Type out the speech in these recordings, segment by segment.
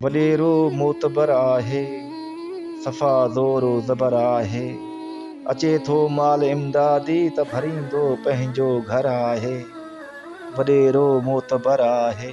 وڏيرو معتبر آهي، صفا زور و زبر آهي. اچي ٿو مال امدادي ته ڀريندو پنهنجو گهر آهي. وڏيرو معتبر آهي.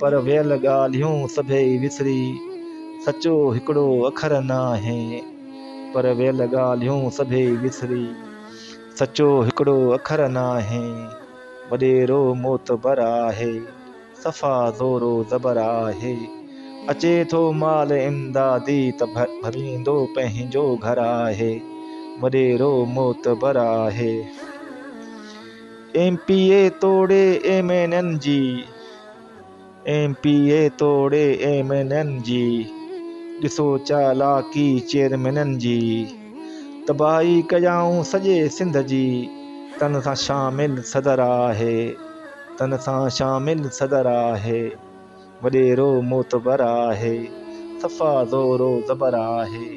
پر ويل ڳالهيون سڀئي وسري، سچو هڪڙو اکر ناهي. پر ويل ڳالهيون سڀئي وسري، سچو هڪڙو اکر ناهي. وڏيرو معتبر آهي، صفا زورو زبر آهي. اچي ٿو مال امدادي ته ڀريندو پنهنجو گهر آهي. وڏيرو معتبر آهي. ايم پي اي توڙي M N N G M P A توڙي ايم اين اين جي ڏسو چالاڪي چيئرمينن جي تباهي ڪيائون سڄي سنڌ جي تن سان شامل صدر آهي تن سان شامل صدر آهي. وڏيرو معتبر آهي، صفا زور و زبر آهي.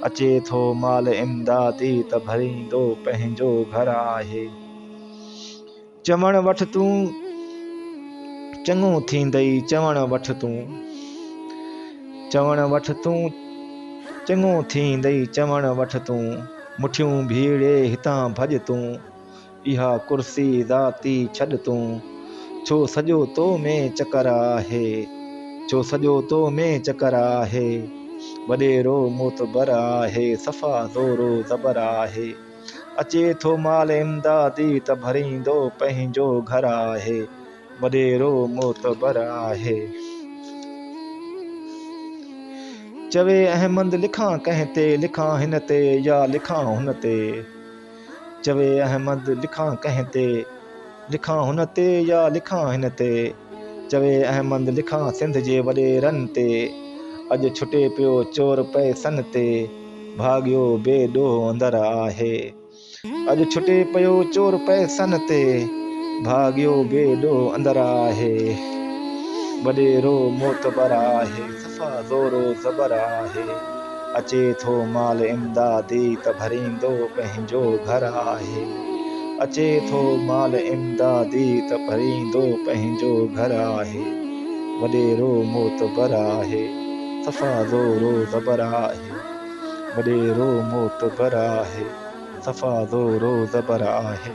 اچي ٿو مال امدادي ته ڀريندو پنهنجو گهر آهي. چوڻ وٺ تون چڱو ٿيندئي چوڻ وٺ تون. چوڻ وٺ تون چڱو ٿيندئي چوڻ وٺ تون. مٺيون ڀيڙي هتان ڀڄ تون. اها ڪرسي ذاتي ڇڏ تون. ڇو سڄو تو ۾ چڪر آهي. ڇو سڄو تو ۾ چڪر آهي. وڏيرو معتبر آهي. صفا زور و زبر آهي. اچي ٿو مال امدادي ته ڀريندو پنهنجو گهر آهي. وڏيرو معتبر آهي. چوي احمد لکان ڪنهن تي. لکان هن تي يا لکان هن تي. چوي احمد لکان ڪنهن تي، لکان هن تي يا لکان هن تي. چوي احمد لکان سنڌ جي وڏيرن تي، اڄ ڇٽي پيو چور پئسن تي. ڀاڳيو بي ڏوهه اندر آهي، اڄ ڇٽي پيو چور پئسن تي. ڀاڳيو بي ڏوهه اندر آهي، وڏيرو معتبر آهي. صفا زور و زبر آهي، اچي ٿو مال امدادي ته ڀريندو پنهنجو گهر آهي، اچي ٿو مال امدادي ته ڀريندو پنهنجو گهر آهي، وڏيرو معتبر آهي، صفا زور و زبر آهي، وڏيرو معتبر آهي، صفا زور و زبر آهي.